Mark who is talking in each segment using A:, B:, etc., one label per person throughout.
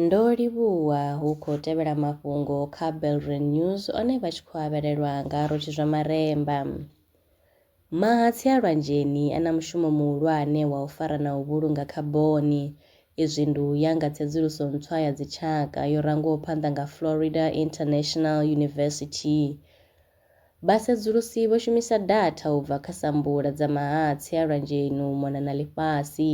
A: Ndo livhuwa hu khou tevhela mafhungo kha Belre News one vha tshi khou avhelelwa nga Rotshi Zwamaremba. Mahatsi a lwanzheni a na mushumo muhulwane wa u fara na u vhulunga khaboni. Izwi ndi u ya nga tsedzuluso ntswa ya dzitshaka yo rangwaho phanḓa nga Florida International University. Vhasedzulusi vho shumisa datha u bva kha sambula dza mahatsi a lwanzheni u mona na ḽifhasi.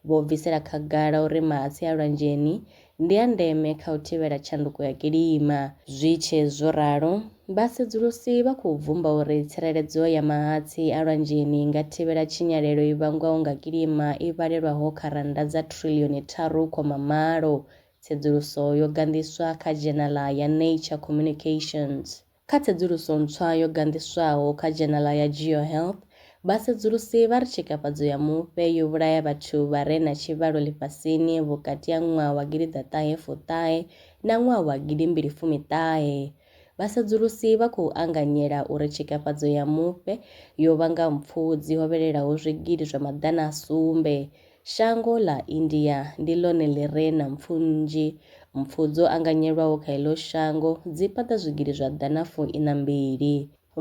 A: Vho bvisela khagala uri mahatsi a lwanzheni ndi a ndeme kha u thivhela tshanduko ya kilima. Zwi tshe zwo ralo, vhasedzulusi vha khou bvumba uri tsireledzo ya mahatsi a lwanzheni i nga thivhela tshinyalelo i vhangwaho nga kilima i vhalelwaho kha rannda dza thrillioni tharu khoma malo, tsedzuluso yo ganḓiswa kha dzhenala ya Nature Communications. Kha tsedzuluso ntswa yo ganḓiswaho kha dzhenala ya GeoHealth, vhasedzulusi vha ri tshikafhadzo ya mufhe yo vhulaya vhathu vha re na tshivhalo ḽifhasini vhukati ha ṅwaha wa gidi ḓa ṱahe fu ṱahe na ṅwaha wa gidi mbili fumi ṱahe. Vhasedzulusi vha khou anganyela uri tshikafhadzo ya mufhe yo vhanga mpfu dzi hovhelelaho zwigidi zwa maḓana a sumbe Shango ḽa India ndi ḽone ḽi re na mpfu nnzhi. Mpfu dzo anganyelwaho kha heḽo shango dzi paḓa zwigidi zwa ḓana fu iṋa mbili.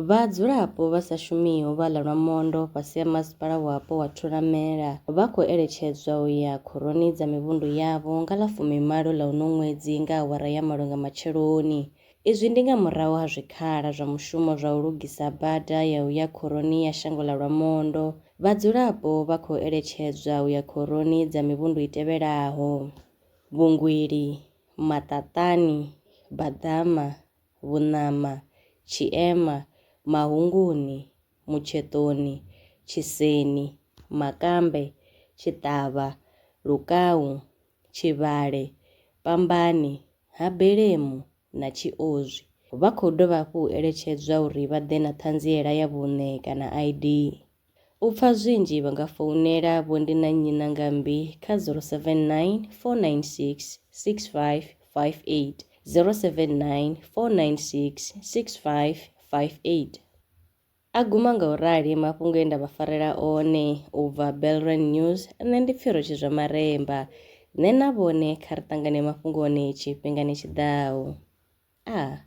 A: Vhadzulapo vha sa shumiho vha ḽa lwa mondo fhasi ha Masipala Wapo wa Thulamela vha khou eletshedzwa u ya khoroni dza mivhundu yavho nga ḽa fumi malo ḽa uno ṅwedzi nga awara ya malo nga matsheloni. Izwi ndi nga murahu ha zwikhala zwa mushumo zwa u lugisa bada ya u ya khoroni ya shango ḽa Lwamondo. Vhadzulapo vha khou eletshedzwa u ya khoroni dza mivhundu i tevhelaho, Vhungwili, Maṱaṱani, Baḓama, Vhuṋama, Tshiema, Mahunguni, Mutsheṱoni, Tshiseni, Makambe, Tshiṱavha, Lukau, Tshivhale, Pambani, Ha Belemu na Tshiozwi. Vha khou dovha hafhu u eletshedzwa uri vha ḓe na ṱhanziela ya vhuṋe kana ID. U pfa zwinzhi vha nga founela Vho Ndi na Nnyi na Ngambi kha 079 496 6558, 079 496 6558. A guma nga u rali mafhungo e nda vha farela one u bva Belrand News, nṋe ndi Pfiro Tshizwamaremba. Nṋe na vhone kha ri ṱangane mafhungoni tshifhingani tshi ḓaho. Ah.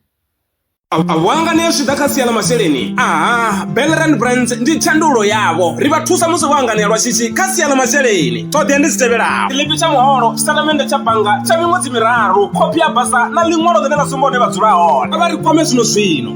B: A vho anganea zwi tshi ḓa kha sia ḽa masheleni? Aha, Belrand Brands ndi thandululo yavho. Ri vha thusa musi vho anganea lwa shishi kha sia ḽa masheleni. Ṱhoḓea ndi dzi tevhelaho, tshiḽipi tsha muholo, tshitatamennde tsha bannga tsha miṅwedzi miraru, khophi ya basa na ḽiṅwalo ḽine ḽa sumba hune vha dzula hone. Kha vha ri kwame zwino-zwino.